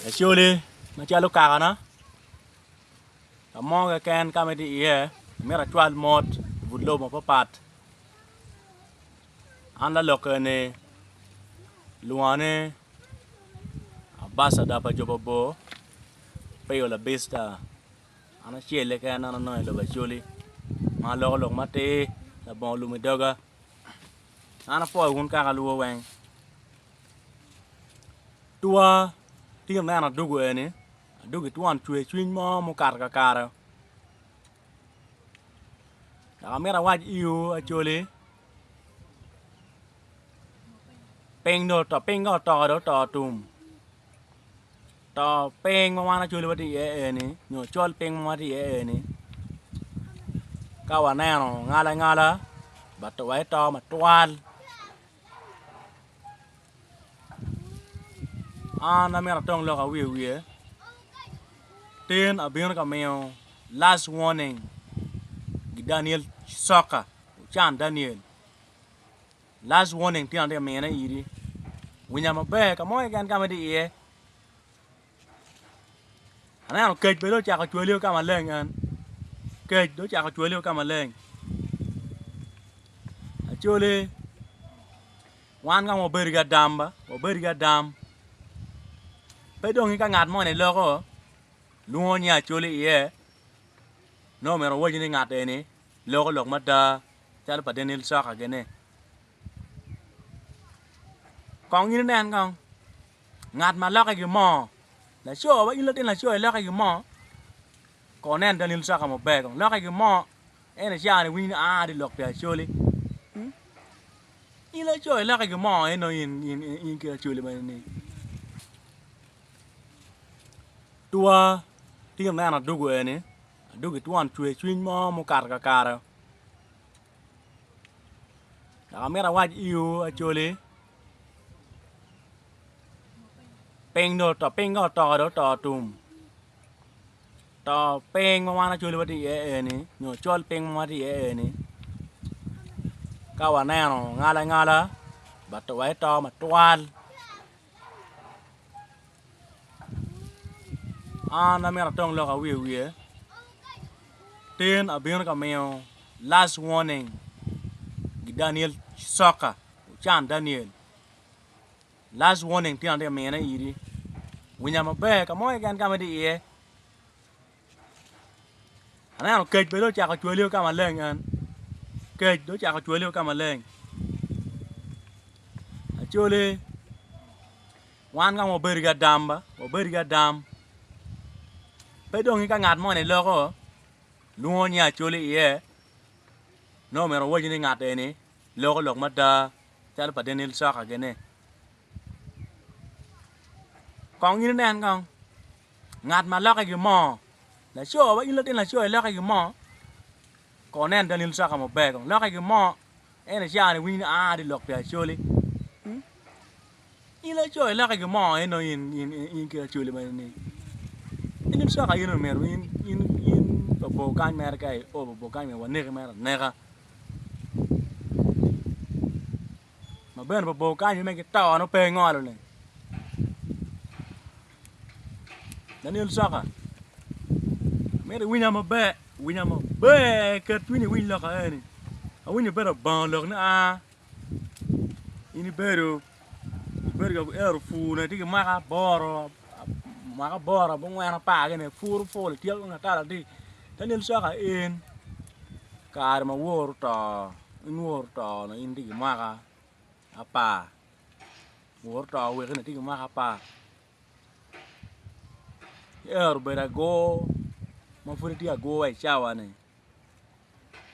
Lacoli macalo kakana ka mo keken ka ma itye iye myero acwal mot i but lobo mapatpat an lalokke ni kilwonga ni abacada pa jo mabor Pio La Bicta an acel-le keken ma anongo i lobo Acholi ma aloko lok matir labongo lum i doga. An apwoyo wun kaka alwor weng. Twa tye neno adugu eni, adugi twon cwer cwiny mo mukato kakare. Dok amito awac iwu Acholi, piny dong oto, piny ka otoko dong oto tum. To piny ma wan acoli watye iye eni nyo col piny ma watye iye eni ka waneno ngala ngala but wato matwal an amyero atong lok awiye wiye tin abino ka miyo last warning gi Daniel coka ocan Daniel Last warning tyen atye ka mine iri, winya maber ka mo keken ka ma itye iye. Aneno kec bene ocako cwaliyo ka maleng en. Kec do ocako cwaliyo ka maleng. Acoli wan ka wabedo ki adam ba, wabedo ki adam. Pe dong ka ngat moni loko lwongo nying acoli iye nongo myero owaci ni ngat eni loko lok mada calo pa Daniel Saka kene. Kong in inen kong ngat ma lokke ki mo laco wa in latin laco ilokke ki mo kong nen Daniel Saka maber kong lokke ki mo en icani winy ni aa ati lok pi Acholi hmm? in laco ilokke ki mo en nongo in, in, in, in ki Acholi ma ni tua tingo neno adugu eni Adwogi twon cwercwiny mo mukato kakare dok amito awac iwu Acholi piny dong oto piny ka oto dong oto tum to piny ma wan Acholi watye iye eni nyo col piny ma watye iye eni ka waneno ngala ngala wa ito matwal. An amito atong lok awiye wiye tin abino ka miyo last warning ki Daniel soccer ocan Daniel last warning tin atye ka mine idi winya maber ka mo keken ka ma itye iye. Aneno kec bene dong ocako cwale ki ka maleng en kec dong ocako cwale ki ka maleng Acholi wan ka ma wabedo ki adam ba wabedo ki adam pe dong ka ngat moni loko lwongo nying Acholi iye nongo omyero owaci ni ngat eni loko lok mada calo pa Daniel Coka gini kong in inen kong. Ngat ma lokke gimo. Laco wa in latin laco ilokke gimo kor nen Daniel Saka maber kong lokke gimo en icawa ni winy ni aa ati lok pi Acholi in laco ilokke gimo eno in in in ki Acholi ma in-ni Daniel Saka in omyero in in in pa bor kany mere ka i o pa bor kany myero waneki mere aneka. ma bene pa bor kany me ki tone pe ingolo ni Daniel Saka mito iwinya maber winya maber ket cwinyi iwiny lok aeni awinyo bedo abongo lok ni aa in ibedo ibedo ka ero pur ne tye ki mwaka aboro mwaka aboro abongwen apar kene puru puro ityeko tung atar adii Daniel Saka en kare ma woro oto inwor to na in itye ki mwaka apar wor to wek in itye ki mwaka apar ci ero obedo agur ma pud itye agur wa i cawa ni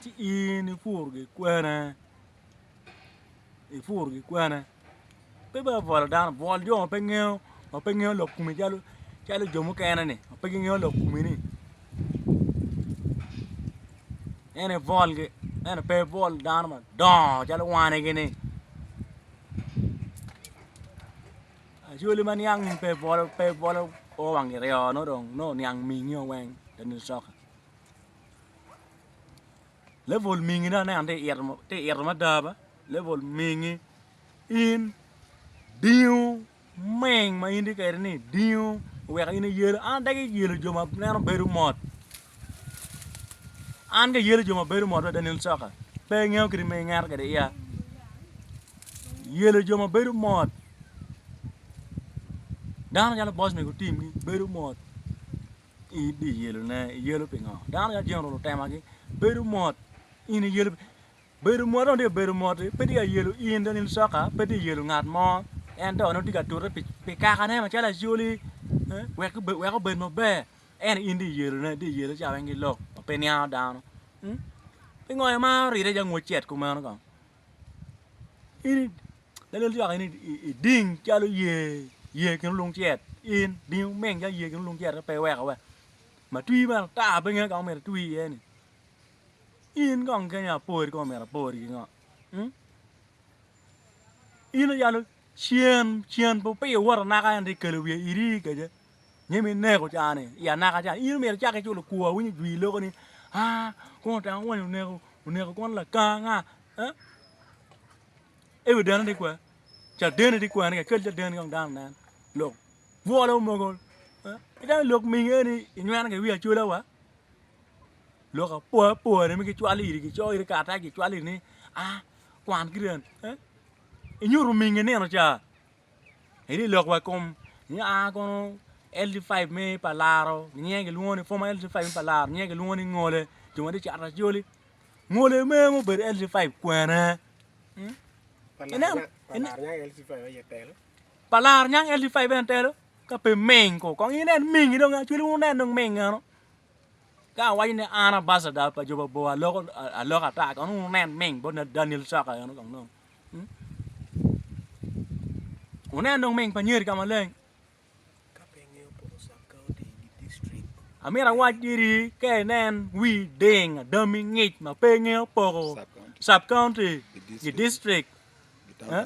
ci in ipur gikwene ipur gikwene Pe bene obwolo dano, bwol jo ma pe ngeyo ma pe ngeyo lok komi calo calo jo mukene ni ma pe gingeyo lok komi ni en ibwolgi ento pe ibwol dano madongo calo wanigi ni acholi ma niang in pe ibwolo pe ibwolo o wang iryo nongo dong nongo oniang mingi o weng lanen coka level mingine aneno tye ka ito mada ba level mingi in dingo meng ma in tye kwede ni dingo oweko in iyelo an adagi yelo jo ma neno bedo mot an ga ayelo jo ma bedo mot adada nen coka pe ingeyo kit ma ingeto kwede iya yelo jo ma bedo mot dano calo boss mego tim gi bedo mot in dong iyelone iyelo pingo dano calo general otemagi bedo mot in iyelo Bedo mot dong tye ka bedo mot pe tye ka yelo in dong in coka pe tye ka yelo ngat mo ento nongo tye ka tute pi kakane macalo Acholi wek obed maber ento in tye ka yelone tye ka yelo ca weng ki lok ma pe niango dano pingo aye ma oride calo ngut cet kumeno kong in lanen coka in iding calo yer yer kin olung cet in ding omeng calo yer kin olung cet pe iweko wa ma twi bene ata pinge kama omyero itwi iye-ni. In kong keni apori kong omyero apori ki ngo? In oyalo cen cen pe opiyo wot anaka ento ikelo wiye iri kece nge mi neko cani i anaka cani in omyero icak iculo kwo awinyo jwi iloko ni a kong otanga wonyo oneko oneko kwon lakanga eh? ewi dene di kwe cadeni di kwene kel cadeni kong dano nen lok bwolo mogo eh? idong ilok mingi eni inywena ki wi acola wa lok apoapoane ma gicwalo iri gicoyo iri karatac gicwalo iri ni a kwan ki ryeni inyuto ominge nino ca idhi lok wa i kom ni a kono LD five me pa laro nyinge gilwongo ni former LD five me pa laro nyinge gilwongo ni ngole jo ma tye ka cato acholi ngole me ma obedo LD five kwene pa laro nyang LD five en telo ka pe ming ko kong inen ming dong acholi wun wunen dong ming meno. Ka awaco ni an abacada pa jo mabor aloko aloka ata kong nongo wunen ming bot Daniel Caka eno kong nongo. Wunen dong ming pa Nyeri ka maleng. Amira awac diri ka inen wi ding adami ngic ma pe ngeyo poko sub county gi district. Eh?